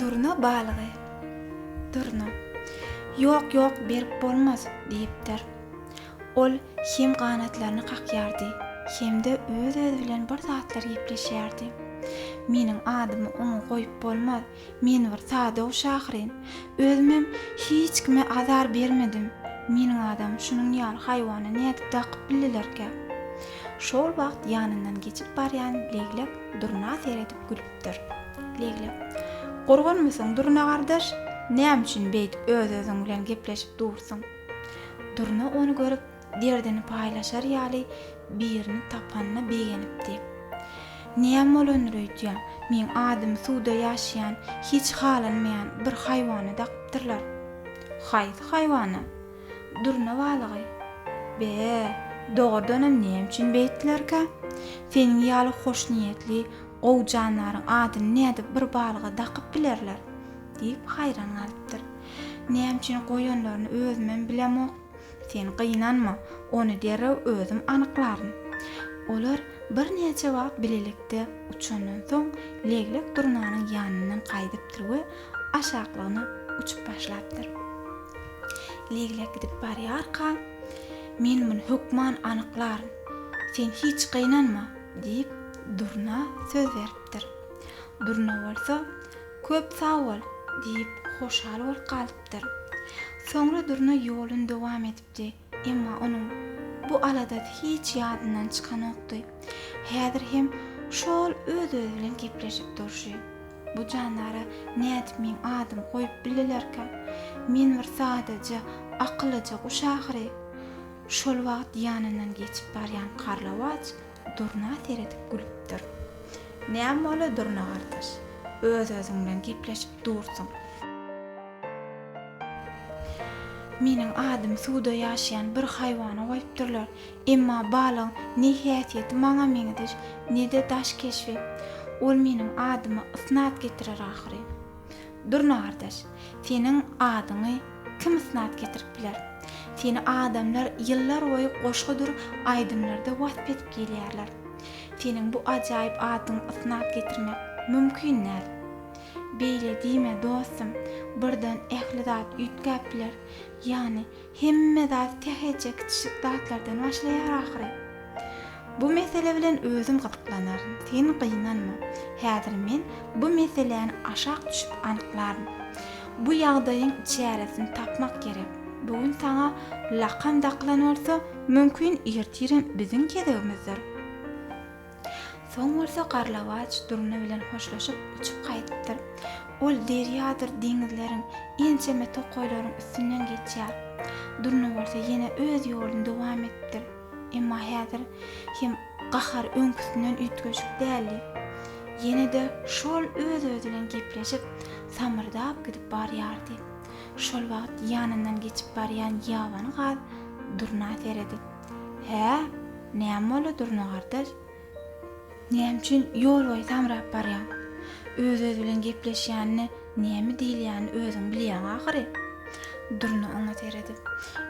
Durna balygy. Durna. Ýok, ýok, berip bolmaz, diýipdir. Ol hem ganatlaryny kakýardy, hem-de öz-özi bilen bir zatlar gepleşýärdi. Meniň adymy oňa goýup bolmaz. Men bir sadow şahyryn. Özümem hiç kime azar bermedim. Meniň adam şunuň ýaly haýwana nädip dakyp bildilerkä? Şol wagt ýanyndan geçip barýan Leglek Durna seredip gülüpdir. Leglek, Gurgunmysyň, Durna gardaş? Näme üçin beýdip öz-özüň bilen gepleşip dursuň? Durna ony görüp. Derdini paýlaşar ýaly birini tapanyna begenipdi. Näm bolandyr öýdýän, meň adymy suwda ýaşaýan, hiç halanmaýan bir haýwana dakypdyrlar. Haýsy haýwana? Durna balygy. Be, dogrudanam näme üçin beýtdilerkä? Seniň ýaly hoşniýetli, gowy jandaryň adyny nädip bir balyga dakyp bilerler? diýip haýran galypdyr. Näme üçin goýanlaryny özümem bilemok. Sen gynanma, ony derrew özüm anyklaryn. Olar birnäçe wagt bilelikde uçandan soň, Leglek durnanyň ýanyndan gaýdypdyr we aşaklygyna uçup başlapdyr. Leglek gidip barýarka, Men muny hökman anyklaryn. Sen hiç gynanma, diýip, durna söz beripdir. Durna bolsa, Köp sag bol, diýip, hoşal bolup galypdyr. ýatypdyr. Soňra Durna ýolun dowam edipdi. Emma onuň bu aladasy hiç ýadyndan çykanokdy. Häzir hem şo-ol öz-özi bilen gepleşip durşy. Bu jandara nädip meň adymy goýup bildilerkä? Men bir sadaja, akylyja guş ahyry. Şol wagt ýanyndan geçip barýan Karlawaç Durna seredip gülüpdir. Näme bole Durna gardaş? Öz-özüň bilen gepleşip dursuň. Meniň adymy suwda ýaşaýan bir haýwana goýupdyrlar. Emma balygyň ne häsiýeti maňa meňzeş, ne-de daş keşbi. Ol meniň adyma ysnat getirer ahyry. Durna gardaş, seniň adyňy Kim ysnat getirip biler? Seni adamlar ýyllar boýy goşgudyr aýdymlarda wasp edip gelýärler. Seniň bu ajaýyp adyňy ysnat getirmek mümkin däl. Beýle diýme, dostum, birden ähli zat üýtgäp biler. Ýagny, hemme zat sähelçe kiçijik zatlardan başlaýar ahyry. Bu mesele bilen özüm gyzyklanaryn, sen gynanma. Häzir men bu meseläni aşak düşüp anyklaryn. Bu ýagdaýyň çäresini tapmak gerek. Bu gün saňa lakam dakylan bolsa, mümkin, ertirem biziň gezegimizdir. Soň bolsa Garlawaç Durna bilen hoşlaşyp, uçup gaýdypdyr. Ol derýadyr deňizleriň, ençeme tokaýlaryň üstünden geçýär. Durna bolsa ýene öz ýoluny dowam edipdir. Emma häzir hem gahar öňküsinden üýtgeşik däldi. Ýene-de şol öz-özi bilen gepleşip, samyrdap gidip barýardy. Şol wagt ýanyndan geçip barýan ýabany gaz Durna seredip, Hä, näme boldy, Durna gardaş? Näme üçin ýol boýy samrap barýaň? Öz-özi bilen gepleşýänini, näme diýilýänini özüň bilýäň ahyry. Durna oňa seredip.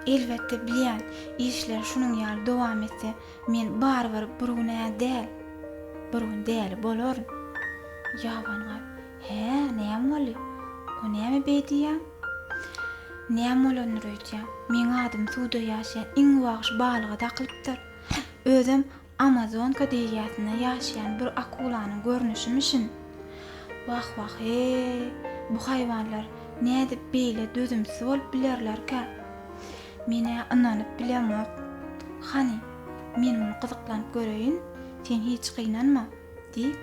Elbetde bilýän, işler şunuň ýaly dowam etse, men barybir bir gün-ä däl, bir gün däli bolaryn. Ýabany gaz. Hä, näme boldy? O näme beý diýýäň? Näme bolandyr öýtýäň? Meň adym suwda ýaşaýan iň wagş balyga dakylypdyr. Özem Amazonka derýasynda ýaşaýan bir akulanyň görnüşimişin. Wah-wah-eý, bu haýwanlar nädip beýle dözümsiz bolup bilerlerkä? Men-ä ynanyp bilemok. Hany, men muny gyzyklanyp göreýin, sen hiç gynanma, diýip,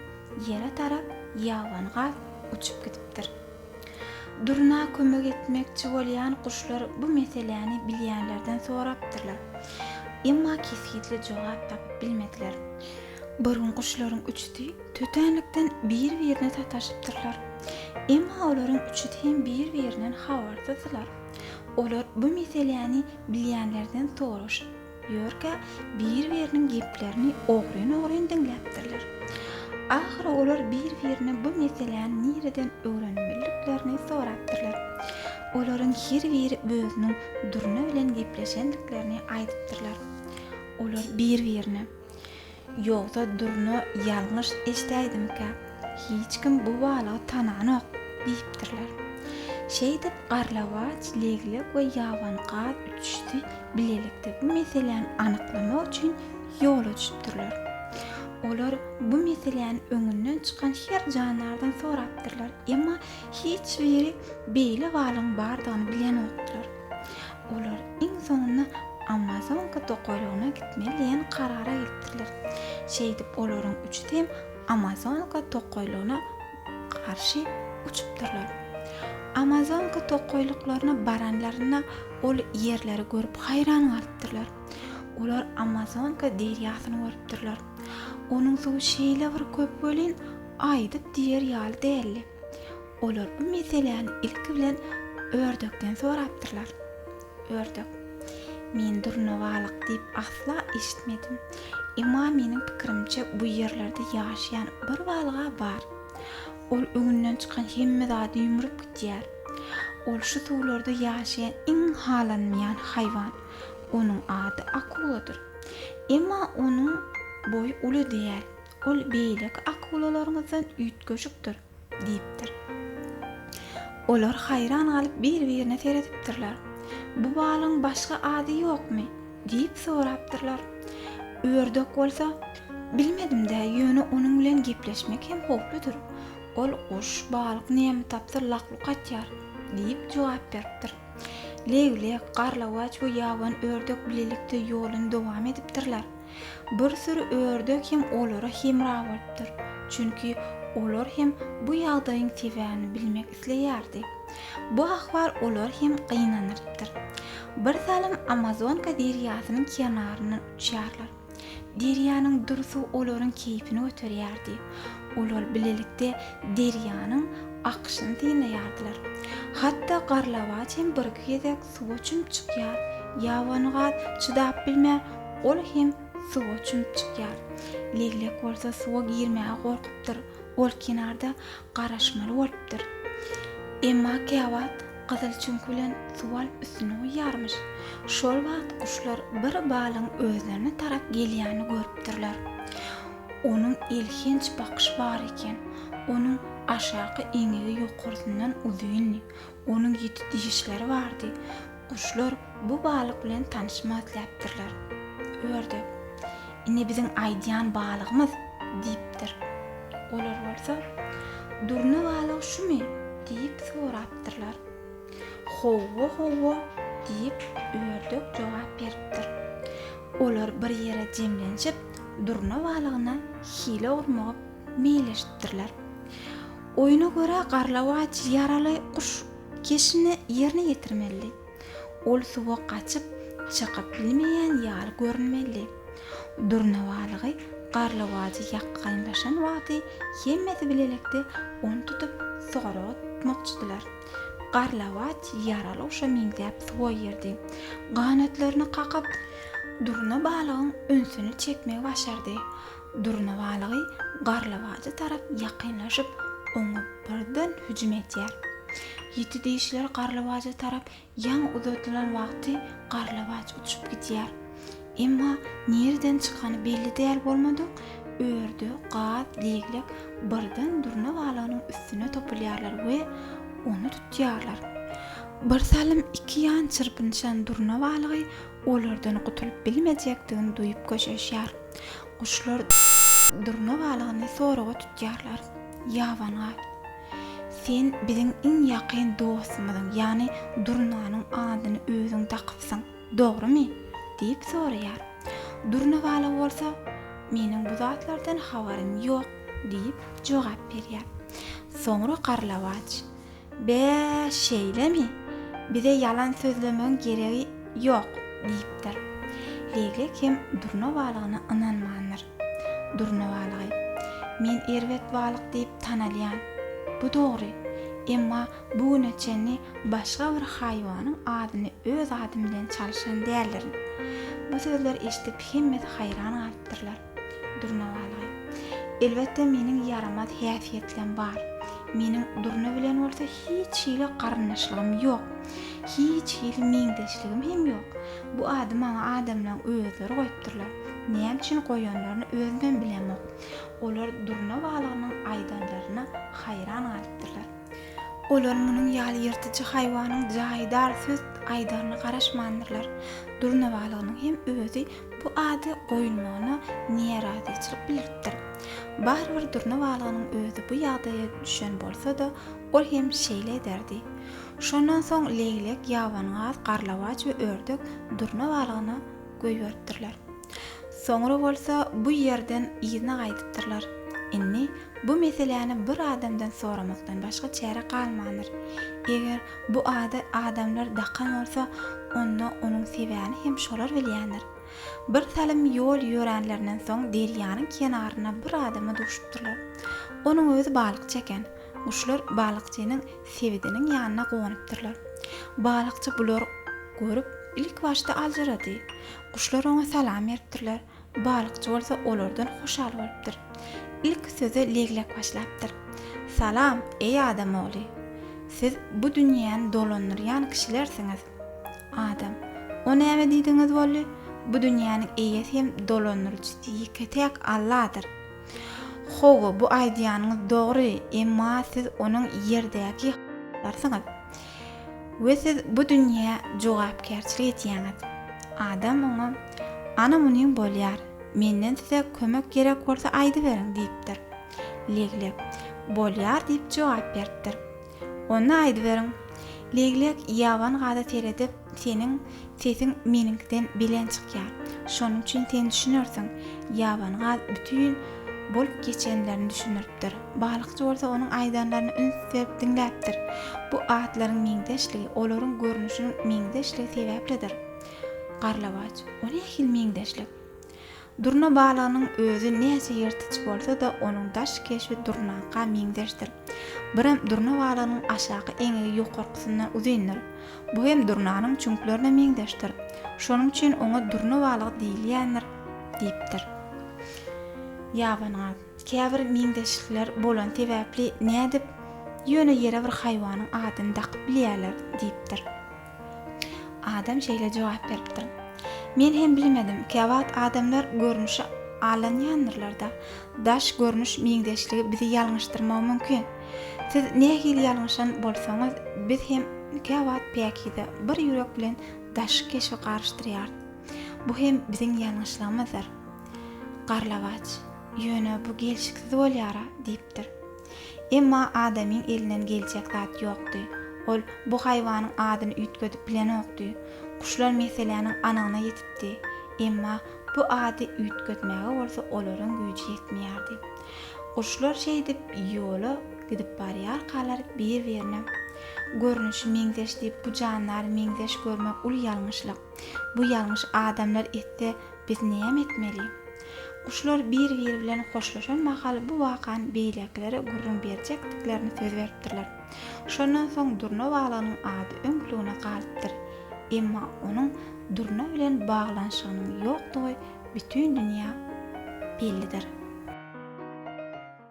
ýere tarap ýabany gaz uçup gidipdir. Durna kömek etmekçi bolýan guşlar bu meseläni bilýänlerden sorapdyrlar. Emma kesgitli jogap tapyp bilmediler. Bir gün guşlaryň üçüsi tötänlikden bir-birine sataşypdyrlar. Emma olaryň üçüsi hem bir-birinden habarsyzdylar. Olar bu meseläni bilýänlerden soraşyp. Ýörkä, bir-biriniň geplerini ogryn-ogryn diňläpdirler. Ahyry olar bir-birine bu meseläni nireden öwrenmeliliklerini sorapdyrlar. Olaryň her biri özüniň Durna bilen gepleşendiklerini aýdypdyrlar. Olar bir-birine. Ýogsa Durna ýalňyş eşdäýdimikä, hiç kim bu balygy tananok diýipdirler. Şeýdip, Garlawaç, Leglek we Ýaban gaz üçüsi bilelikde bu meseläni anyklamak üçin ýola düşüpdirler. Olar bu meseläni öňünden çykan her jandardan sorapdyrlar, emma hiç biri beýle balygyň bardygyny bilenokdylar. Olar iň soňunda Amazonka tokaýlygyna gitmeli diýen karara gelipdirler. Şeýdip olaryň üçüsi hem Amazonka tokaýlygyna garşy uçupdyrlar. Amazonka tokaýlyklaryna baranlarynda ol ýerleri görüp haýran galypdyrlar. Olar Amazonka derýasyny görüpdirler. Onuň suwy şeýle bir köp welin, aýdyp diýer ýaly däldi. Olar bu meseläni ilki bilen ördekden sorapdyrlar. Ördek, Men durnabalyk diýip asla eşitmedim. Emma meniň pikirimçe bu ýerlerde ýaşaýan bir balyga bar. Ol öňünden çykan hemme zady ýumrup gidýär. Ol şu suwlarda ýaşaýan iň halanmaýan haýwan. Onuň ady akuladyr. Emma onuň boýy uly däl. Ol beýleki akulalaryňyzdan üýtgeşikdir, diýipdir. Olar haýran galyp bir-birine seredipdirler. Bu balygyň başga ady ýokmy? diýip sorapdyrlar. Ördek bolsa, Bilmedim-dä, ýöne onuň bilen gepleşmek hem howpludyr. Ol guş, balyk näme tapsa lak-luk atýar, diýip jogap beripdir. Leglek, garlawaç we ýaban ördek bilelikde ýoluny dowam edipdirler. Bir süri ördek hem olara hemra bolupdyr, çünki olar hem bu ýagdaýyň sebäbini bilmek isleýärdi. Bu ahwal olary hem gynandyrypdyr. Birsalym Amazonka derýasynyň kenaryndan uçýarlar. Derýanyň dursy olaryň keýpini göterýärdi. Olar bilelikde derýanyň akyşyny synlaýardylar. Hatda garlawaç hem birki gezek suwa çümüp çykýar. Ýabanygat çydap bilmän, ol hem suwa çümüp çykýar. Leglek bolsa suwa girmäge gorkupdyr, ol kenarda garaşmaly bolupdyr. Emma käwagt gyzyl çüňk bilen suw alyp üstüne guýýarmyş. Şol wagt guşlar bir balygyň özlerine tarap gelýänini görüpdirler. Onuň elhenç bakyşy bar eken. Onuň aşaky eňegi ýokarsyndan uzyndy. Onuň ýiti dişleri bardy. Guşlar bu balyk bilen tanyşmak isläpdirler. Ördek, Ine biziň aýdýan balygymyz! diýipdir. Olar bolsa, Durna balyk şumy? diýip sorapdyrlar. Howwa, howwa! diýip, ördek jogap beripdir. Olar bir ýere jemlenşip, durna balygyna hile urmagy meýilleşipdirler. Oýuna görä garlawaç ýaraly guş keşini ýerine ýetirmelidi. Ol suwa gaçyp çykyp bilmeýän ýaly görünmelidi. Durna balygy garlawajy ýakgaýynlaşan wagty hemmesi bilelekde ony tutup soraga tutmakçydylar. Garlawaç ýaraly guşa meňzäp suwa girdi. Ganatlaryny kakyp durna balygyň ünsüni çekmegi başardy. Durna balygy garlawajy tarap ýakynlaşyp, oňa birden hüjüm edýär. Ýiti dişler garlawaja tarap ýaň uzadylan wagty garlawaç uçup gidýär. Emma nireden çykany belli däl bolmadyk örde gaz leglek birden durna balygynyň üstüne topulýarlar we ony tutýarlar. Birsalym iki ýan çyrpynyşan durna balygy Olardan gutulyp bilmejekdigini duýup köşeşýär. Guşlar durna balygyny soraga tutýarlar. Ýaban gaý. Sen biziň iň ýakyn dostumyzyň, ýagny durnanyň adyny özüň dakypsyň, dogrumy? diýip soraýar. Durna balygy bolsa, Meniň bu zatlardan habarym ýok, diýip jogap berýär. Soňra Garlawaç, Bä, şeýlemi? Bize ýalan sözlemegiň geregi ýok, diýipdir. Leglek hem durna balygyna ynanmandyr. Durna balygy, Men erbet balyk diýip tanalýan. Bu dogry. Emma bu güne çenli başga bir haýwanyň adyny öz adym bilen çalyşan däldirin. Bu sözleri eşidip hemmesi haýran galypdyrlar. Durna balgy. Elbetde meniň ýaramaz häsiýetlem bar. Meniň Durna bilen bolsa hiç hili garyndaşlygym ýok. Hiç hili meňzeşligim hem ýok. Bu ady maňa adamlaň özleri goýupdyrlar. Näme üçin goýanlaryny özümem bilemok. Olar Durna balgynyň aýdanlaryna haýran galypdyrlar. Olar munuň ýaly ýyrtyjy haýwanyň jaýdar söz aýdaryna garaşmandyrlar. Durna balgynyň hem özi Bu ady goýulmagyna niarazyçylyk bildiripdir. Barybir durna balygynyň özi bu ýagdaýa düşen bolsa-da, ol hem şeýle ederdi. Şondan soň leýlek, ýabanyňaz, garlawaç we ördek durna balygyna goýberipdirler. Soňra bolsa bu ýerden yzyna gaýdypdyrlar. Indi bu meseläni bir adamdan soramakdan başga çäre galmandyr. Eger Bu ady adamlar dakan bolsa, onda onuň sebäni hem şolar bilýändir. Bir salym ýol ýöränlerinden soň derýanyň kenarynda bir adama duşupdyrlar. Onuň özi balykçy eken. Guşlar balykçynyň sebidiniň ýanyna gonupdyrlar. Balykçy bulary görüp, ilk başda aljyrady. Guşlar oňa salam beripdirler. Balykçy bolsa olardan hoşal bolupdyr. Ilki söze Leglek başlapdyr. Salam, eý adam ogly! Siz bu dünýäni dolandyrýan kişilersiňiz. Adam, O näme diýdigiňiz boldy? Bu dünýäniň eýesi hem dolandyryjysy ýeke-täk Alladyr. Hawa, bu aýdýanyňyz dogry, emma siz onuň ýerdäki halypasyňyz. we siz bu dünýä jogapkärçilik edýäňiz. Adam oňa, Ana muny bolýar, menden size kömek gerek bolsa aýdyberiň diýipdir. Leglek, Bolýar diýip jogap beripdir. Onda aýdyberiň. Leglek Ýaban gaza seredip, Seniň sesiň meniňkiden belent çykýar. Şonuň üçin sen düşünersiň. Ýaban gaz bütin bolup geçenlerini düşündiripdir. Balykçy bolsa onuň aýdanlaryny üns berip diňläpdir. Bu atlaryň meňzeşligi olaryň görnüşiniň meňzeşligi sebäplidir. Garlawaç, O nähili meňzeşlik? Durna balygynyň özi näçe ýyrtyç bolsa-da, onuň daş keşbi durnaka meňzeşdir. Birem durna balygynyň aşaky eňegi ýokarkysyndan uzyndyr. Bu hem durnanyň çüňklerine meňzeşdir. Şonuň üçin oňa durna balygy diýilýändir, diýipdir. Ýabanyňa, käbir meňzeşlikler bolany sebäpli nädip ýöne ýere bir haýwanyň adyny dakyp bilýärler? diýipdir. Adam şeýle jogap beripdir. Men hem bilmedim, käwagt adamlar görnüşe alanýandyrlar-da, daş görnüş meňzeşligi bizi ýalňyşdyrmagy mümkin. Siz nähili ýalňyşan bolsaňyz, biz hem käwagt päkize bir ýürek bilen daş keşbi garyşdyrýarys. Bu hem biziň ýalňyşlygymyzdyr. Garlawaç, Ýöne bu gelşiksiz bolýar-a, diýipdir. Emma adamyň elinden geljek zat ýokdy. Ol bu haýwanyň adyny üýtgedip bilenokdy. Guşlar meseläniň anygyna ýetipdi. Emma bu ady üýtgetmäge bolsa olaryň güýji ýetmeýärdi. Guşlar şeýdip ýola gidip barýarkalar bir-birine Görnüşi meňzeş diýip bu jandary meňzeş görmek uly ýalňyşlyk. Bu ýalňyş adamlar etse biz näme etmeli? Guşlar bir-biri bilen hoşlaşan mahal bu wakany beýlekilere gürrüň berjekdiklerini söz beripdirler. Şondan soň durna balygynyň ady öňküligine galypdyr. Emma onuň durna bilen baglanyşygynyň ýokdugy bütin dünýä bellidir.